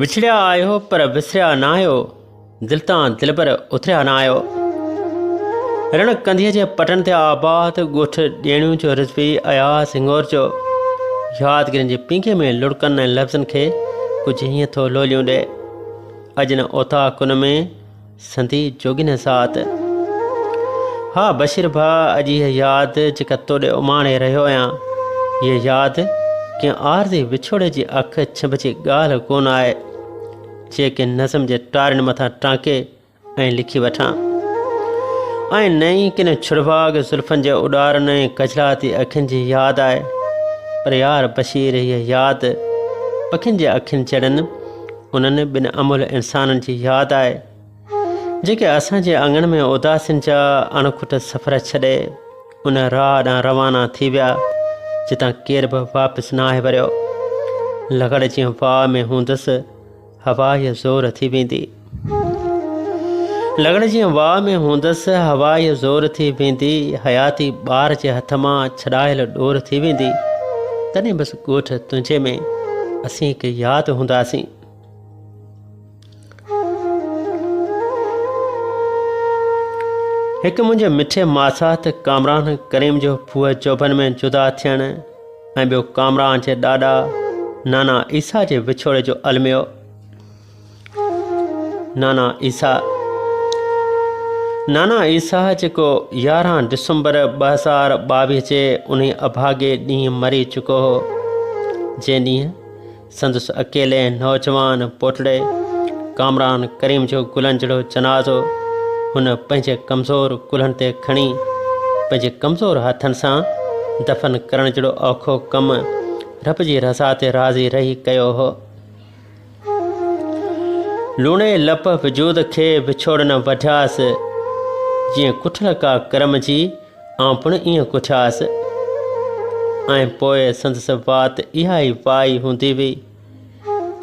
وڇڙيا آهيو پر وسريا نه آهيو دل تان دل پر اتريا نه آهيو رڻ ڪنڌيء جي پٽن تي آباد ڳوٺ ڏيڻيون جو رضوي اياز هنگور جو يادگيرن جي پينگهي ۾ لڙڪن ۽ لفظن کي ڪجهه هيئن ٿو لوليون ڏي اڄ نه اوطاق ان ۾ سندي جوڳين هسات ها بشير ڀا اڄ هي ياد جيڪا توڏي اماڻي رهيو آهيان هي ياد ڪنهن عارضي وڇوڙي جي اک ڇنڀ جي ڳالهه ڪون آهي جيڪي نظم جي ٽارين مٿان ٽانڪي ۽ لکي وٺان ۽ نه ئي ڪن ڇڙڀاڳ زلفن جي اڏارن ۽ ڪجلاتي اکين جي ياد آهي پر يار بشير هي ياد پکين جي اکين جهڙن انهن ٻن املهه انسانن جي ياد آئي جيڪي اسان جي اڱڻ ۾ اداسين جا اڻکٽ سفر ڇڏي ان راهه ڏانهن روانا ٿي ويا جتان ڪير به واپس نه آهي وريو لغڙ جيئن واهه ۾ هوندس هوا يا زور ٿي ويندي لغڙ جيئن واهه ۾ هوندس هوا يا زور ٿي ويندي حياتي ٻار جي هٿ مان ڇڏايل ڏور ٿي ويندي تڏهن بس ڳوٺ تنهنجي ۾ اسين هڪ ياد هونداسين. هڪ منهنجي مٺي ماسات ڪامران ڪريم جو ڦوء چوڀن ۾ جدا ٿيڻ ۽ ٻيو ڪامران جي ڏاڏا نانا عيسيٰ جي وڇوڙي جو الميو. نانا عيسيٰ نانا عيسيٰ جيڪو يارهن ڊسمبر ٻه هزار ٻاويهه جي انهي اڀاڳي ڏينهن مري چڪو هو جنهن ڏينهن سندس اڪيلي نوجوان پوٽڙي ڪامران ڪريم جو گلن جهڙو جنازو هن پنهنجي ڪمزور ڪلهن تي کڻي پنهنجي ڪمزور هٿن سان دفن ڪرڻ جهڙو اوکو ڪم رب جي رضا تي راضي رهي ڪيو هو لوڻي لپ وجود کي وڇوڙ نه وڍياس جيئن ڪٺل ڪا ڪرم جي آئون پڻ ائين ڪٺياس ۽ پوء سندس وات اها ئي وائي هوندي هئي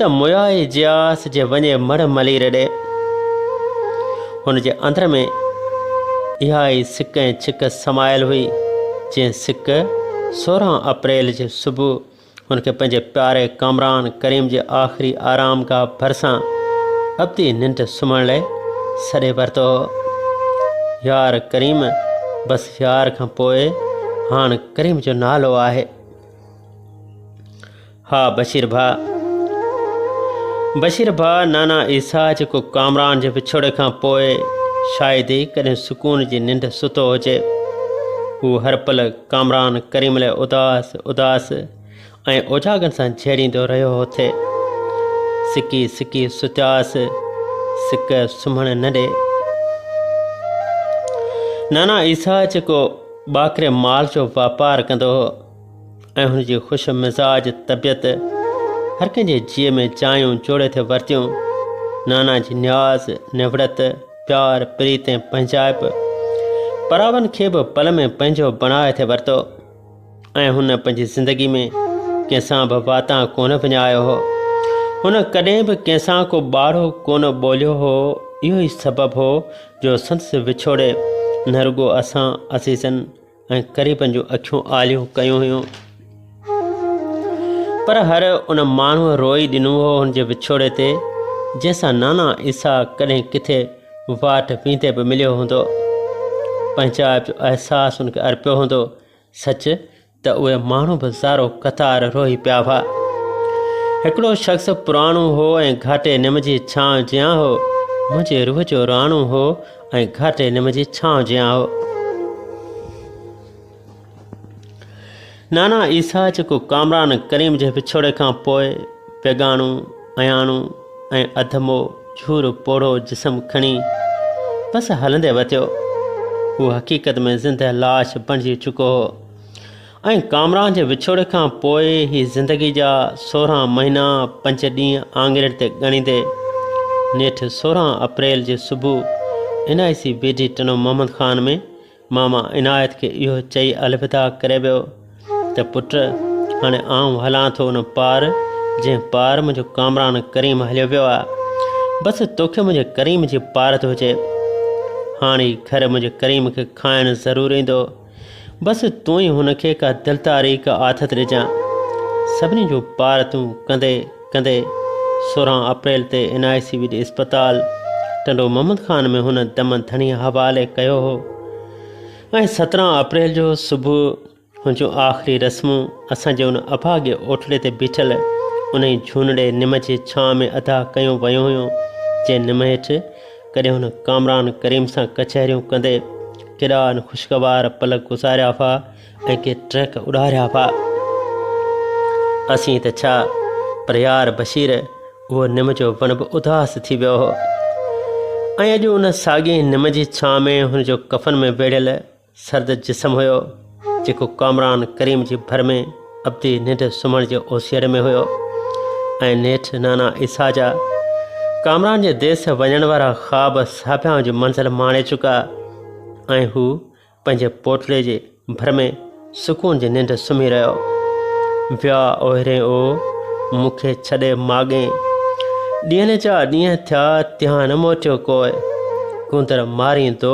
ته مويائي جياس جي وڃي مڙ ملي رڏي هن جي اندر ۾ اها ئي سڪ ۽ ڇڪ سمايل هئي جنهن سڪ سورهن اپريل جي صبح هن کي پنهنجي پياري ڪامران ڪريم جي آخري آرام گاهه ڀرسان ابدي ننڊ سمهڻ لاء سڏي ورتو هو. يار ڪريم بس يار کان پوء هاڻ ڪريم جو نالو آهي. ها بشير ڀاء بشير ڀاء نانا عيسا جيڪو ڪامران جي وڇوڙي کان پوء شايد ئي ڪڏهن سڪون جي ننڊ ستو هجي هو هر پل ڪامران ڪريم علي اداس اداس ۽ اوجاڳن سان جهيڙيندو رهيو هو تي سڪي سڪي ستياس سڪ سمهڻ نه ڏي نانا عيسا جيڪو باڪري مال جو واپار ڪندو هو ۽ هن جي خوش مزاج طبيعت هر ڪنهن جي جيء ۾ جايون جوڙي ٿي ورتيون نانا جي نياز نوڙت پيار، پريت ۽ پنهنجائپ پراون کي به پل ۾ پنهنجو بڻائي ٿي ورتو ۽ هن پنهنجي زندگي ۾ ڪنهن سان به واتان ڪونه وڃايو هو. هن ڪڏهن به ڪنهن سان ڪو ٻاڙو ڪونه ٻوليو هو. اهو ئي سبب هو جو سندس وڇوڙي نه رڳو اسان عزيزن، ۽ ڪري پنهنجون اکيون آليون ڪيون هيون پر هر ان ماڻهوء روئي ڏنو هو هن جي وڇوڙي تي جنهن سان نانا عيسيٰ ڪڏهن ڪٿي واٽ ويندي به مليو هوندو پنهنجائپ جو احساس هن کي ارپيو هوندو سچ ته اهي ماڻهو به زارو قطار روئي پيا هئا هڪڙو شخص پراڻو هو ۽ گهاٽي نم جي ڇانو جيان هو منهنجي روح جو راڻو هو ۽ گهاٽي نم جي ڇانو جيان هو. نانا عيسيٰ جيڪو ڪامران ڪريم جي وڇوڙي کان پوء بيگانو، اياڻو ۽ اڌمو جهورو پوڙهو جسم کڻي بس هلندي وتيو، هو حقيقت ۾ زندهه لاش بڻجي چڪو هو. ۽ ڪامران جي وڇوڙي کان پوء هي زندگي جا سورهن مهينا پنج ڏينهن آڱرين تي ڳڻيندي نيٺ سورهن اپريل جي صبح N I C B D Tando Muhammad Khan ۾ ماما عنايت کي اهو چئي الوداع ڪري ويو ته پٽ هاڻي آئون هلان ٿو ان پار جنهن پار منهنجو ڪامران ڪريم هليو ويو آ بس توکي منهنجي ڪريم جي پارت هجي هاڻي گهر منهنجي ڪريم کي کائڻ ضرور ايندو بس تون ئي هن کي ڪا دل تاريڪ آٿت ڏجان. سڀني جو پار تون ڪندي ڪندي سورهن اپريل تي اين آء سي ويل اسپتال ٽنڊو محمد خان ۾ هن دم ڌڻي حوالي ڪيو هو ۽ سترهن اپريل جو صبح هن جون آخري رسمون اسان جي ان اڀاڳي اوٽڙي تي بيٺل انهي جهونڙي نم جي ڇانء ۾ ادا ڪيون ويون هيون جنهن نم هيٺ ڪڏهن هن ڪامران ڪريم سان ڪچهريون ڪندي ڪيڏا ان خوشگوار پل گذاريا هئا ۽ ڪي ٽريڪ اڏاريا هئا اسين ته ڇا پر يار بشير اهو نم جو وڻ به اداس ٿي ويو هو ۽ اڄ ان ساڳي نم جي ڇانو ۾ هن جو ڪفن ۾ ويڙهيل سرد جسم هيو، جيڪو ڪامران ڪريم جي ڀر ۾ ابدي ننڊ سمهڻ جي اوسيئڙ ۾ هيو ۽ نيٺ نانا عيسيٰ جا ڪامران جي ديس وڃڻ وارا خواب ساڀيان جي منزل ماڻي چڪا ۽ هو پنهنجي پوٽلي جي ڀر ۾ سڪون جي ننڊ سمهي رهيو ويا اوهري او مون کي ڇڏي ماڳين ڏينهن جا ڏينهن ٿيا تيان نه موٽيو ڪوئي ڪندر ماريندو